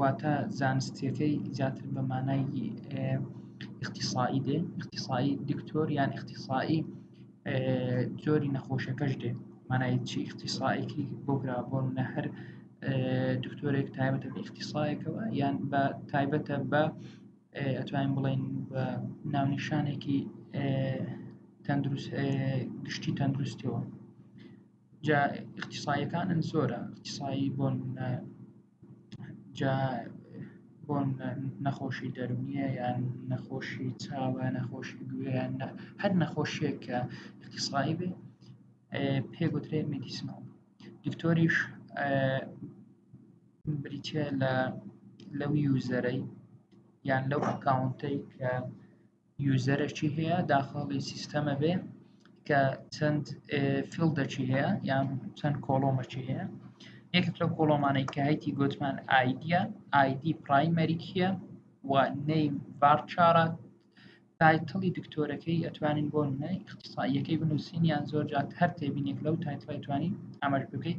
واتە زانستیەکەی زیاتر بە مانای ئیختصایی دێ ئیختصایی دکتۆر یان ئیختصایی جۆری نەخۆشەکەش دێ مانای چی ئیختصایەکی بۆگرا بۆن نە هەر دکتۆرێک تایبەتە بە ئیختصایەکەوە یان بە تایبەتە بە ئەتوانین بڵین بە ناونیشانێکی تەندروست گشتی تەندروستەوە جا ئیختصایەکانن زۆرە ئیختصایی بۆن جا بۆ نەخۆشی دەرونیە یان نەخۆشی چاوە نەخۆشی گوێیان هەر نەخۆشیێک کە اختصایی بێ پێ گوترێ مدیسنۆم دکتۆریش بریتە لە لەو یوزەرەی یان لەو ئەکاونتەی کە یوزەرەکی هەیە داخڵی سیستەمە بێ کە چەند فیلدەکی هەیە یان چەند کۆڵۆمەکی هەیە یەکێک لەو کۆڵۆمانەی کە هەیتی گوتمان ئایدە ئایدی پرایمەریکیە و نیم ڤارچارە تایتڵی دکتۆرەکەی ئەتوانین بۆ نەی اختصاییەکەی بنووسین یان زۆر جات هەر تێبینێک لەو تایتڵی توانین ئەمەش بکەیت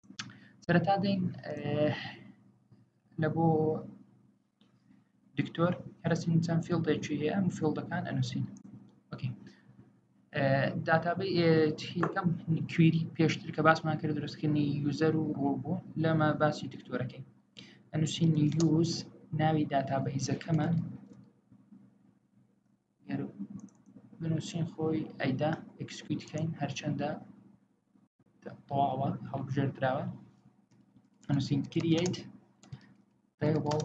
سەرەتا دەین لە بۆ دکتۆر هەرسین چەند فیلدێکی هەیە ئەم فیلدەکان ئەنووسین داتابی هیکەم کوێری پێشتر کە باسمان کرد درستکردنی یوزەر و ڕۆڵ بوو لەمە باسی دکتۆرەکەی ئەنووسین یوز ناوی داتابیزەکەمان گەر بنووسین خۆی ئەیدا ئەکسکیوت کەین هەرچەندە تەواوە هەڵبژێردراوە نووسین کریەیت تێبڵ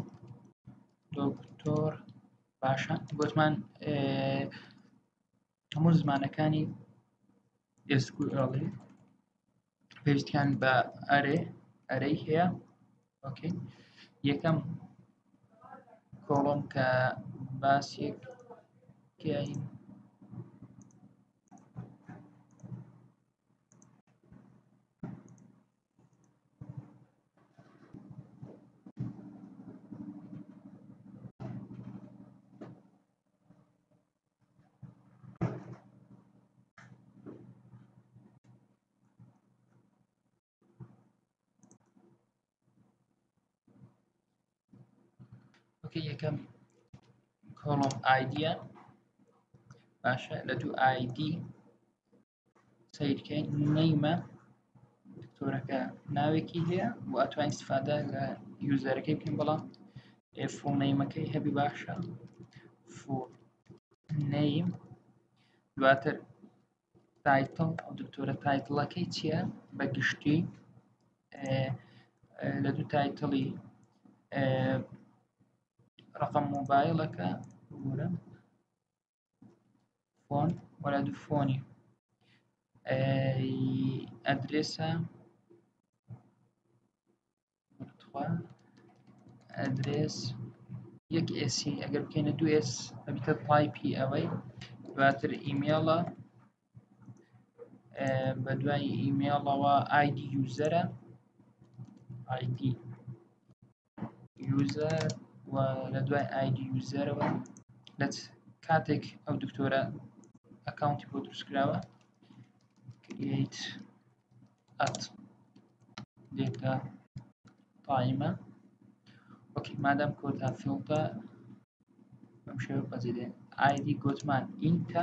دکتۆر باشە گوتمان هەموو زمانەکانی ئێسکوئڵی پێویستیان بە ئەرێ ئەرەی هەیە ئۆکەی یەکەم کۆڵم کە باسێک کەین ئۆکەی یەکەم کۆڵۆم ئایدە باشە لە دوو ئایدی سیرکەین نیمە دکتۆرەکە ناوێکی هەیە و ئەتوانین استفادە لە یوزەرەکەی بکەین بەڵام فۆ نیمەکەی هەبی باشە فۆ نیم دواتر تایتڵ ئەو دکتۆرە تایتڵەکەی چییە بە گشتی لە دوو تایتڵی ڕقم مۆبایلەکە بورە فۆن وەلا دوو فۆنی ئەدرێسە ئەدرێس یەک ئێسی ئەگەر بکەینە دوو ئێس ئەبیتە پایپی ئەوەی دواتر ئیمێڵە بە دوای ئیمێڵەوە ئایدی یوزەرە ئایدی یوزەر و لە دوای ئایدی یوزەرەوە لە کاتێک ئەو دکتۆرە ئەکاونتی بۆ دروستکراوە create at data قائمە وەکی مادەم کۆتا فیڵتە ئەم شێوە بەجێ ئایدی گۆتمان ئینتە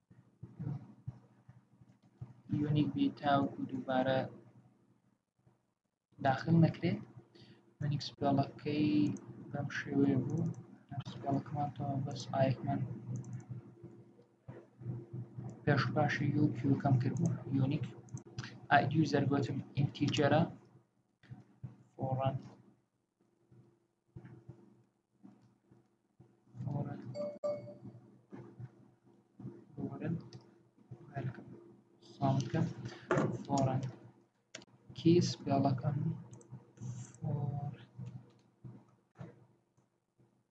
یونیک بی تاوکو دووبارە داخل نەکرێت یونیک سپێڵەکەی بەم شێوەیە بوو سپێڵەکەمان تۆ بەس ئایکمان پێش باشی یو کیو کەم کردبوو یونیک ئایدی و زەرگوتم ئینتیجەرە فۆڕەن بکەم فۆڕن کیس بێڵەکەم فۆر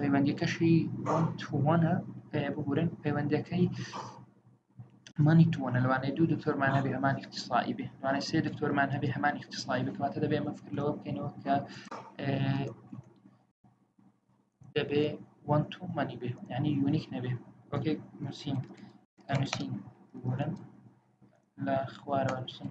پەیوەندیەکەشی تووانە بگورن پەیوەندەکەی مانی توانە لەوانەیە دوو دکتۆرمان هەبێ هەمان اختصایی بێ لەوانە سێ دکتۆرمان هەبێ هەمان اختصایی بکاتە دەبێ ئەمە فکر لەوە بکەینەوە کە دەبێ وان تو مانی بێ ینی یونیک نەبێ وەکێ نووسین نووسین بگورن لە خوارەوە نووسین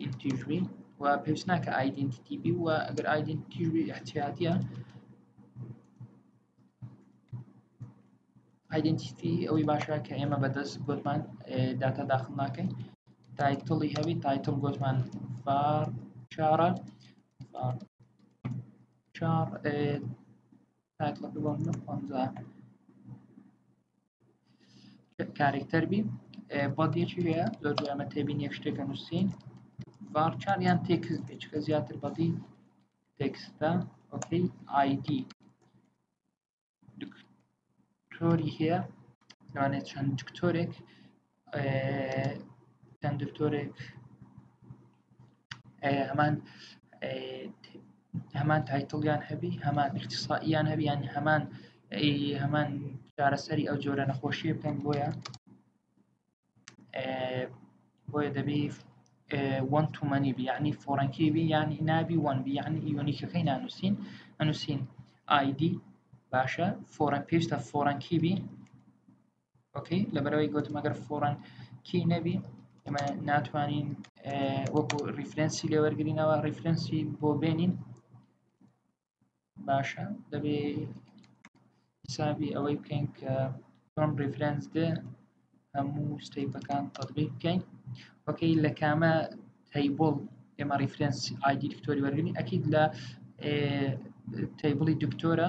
ئینتیژ بی و پێویست ناکە ئایدنتیتی بی و ئەگەر ئایدنتیژ بی احتیاطیە ئایدنتیتی ئەوەی باشە کە ئێمە بەدەست گوتمان داتا داخل ناکەین تایتڵی هەبی تایتڵ گوتمان فار چارە فار چار تایتڵەکە بۆم نە پەنجا کارێکتەر بی بەڵگێکی هەیە زۆر ئەمە تێبینی شتێکە نووسین ڤارچار یان تێکس بێچکە زیاتر بەڵی تێکستە ئۆکەی ئایدی دکتۆری هەیە لەوانێت چەند دکتۆرێک چەند دکتۆرێک هەمان هەمان تایتڵیان هەبی هەمان اختصائیان هەبیان هەمان هەمان چارەسەری ئەو جۆرە نەخۆشیە بکەن بۆیە بۆیە دەبی وەن تومەنی بی ینی فۆرەنکی بی ینی نابی وەن بی ینی یۆنیکەکەی نانووسین ئەنووسین ئایدی باشە فۆرەن پێشتە فۆرەنکی بی ئۆکەی لەبەرەوەی گوتم ئەگەر فۆڕەن کی نەبی ئەمە ناتوانین وەکو ریفرەنسی لێوەرگرینەوە ریفرەنسی بۆ بێنین باشە دەبێ حسابی ئەوەی بکەین کە چۆن ریفرەنس دێ هەموو ستەیپەکان تەطبیق بکەین وەکەی لە کامە تەیبڵ ئێمە ریفرەنس ئایدی دکتۆری وەرگنی ئەکید لە تەیبڵی دکتۆرە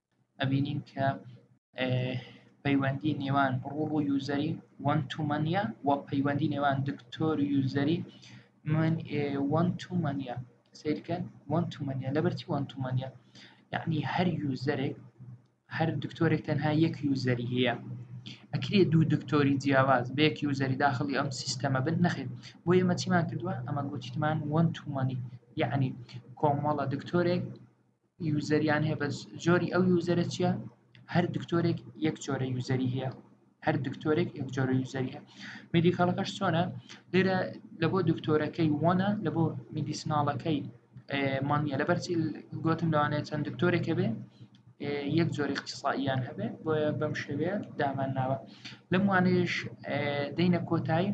ئەبینین کە پەیوەندی نێوان ڕوو ڕوو یوزەری وەن تومەنە و پەیوەندی نێوان دکتۆر یوزەری من وەن تومەنە سیرکەن وەن تومەنە لەبەرتی وەن تومەنە یعنی هەر یوزەرێک هەر دکتۆرێک تەنها یەک یوزەری هەیە ئەکرێ دوو دکتۆری جیاواز بێک یوزەری داخلی ئەم سیستەمە بن نەخێت بۆ ئێمە چیمان کردووە ئەمە گوتیمان وەن تومەنی یعنی کۆمەڵە دکتۆرێک یوزەریان هەیە بەس جۆری ئەو یوزەرە چییە هەر دکتۆرێک یەک جۆرە یوزەری هەیە هەر دکتۆرێک یەک جۆرە یوزەری هەیە میدیکالەکەش چۆنە لێرە لە بۆ دکتۆرەکەی وانە لە بۆ میدیسناڵەکەی مانە لەبەرچی گوتم لەوانەیە چەند دکتۆرێکە بێ یەک جۆری اختصائیان هەبێ بۆیە بەم شێوەیە دامان ناوە لەم وانەیەش دەینە کۆتایی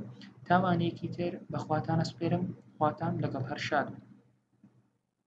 تاوانێکی تر بەخواتانە سپێرم خواتان لەگەڵ هەر شاد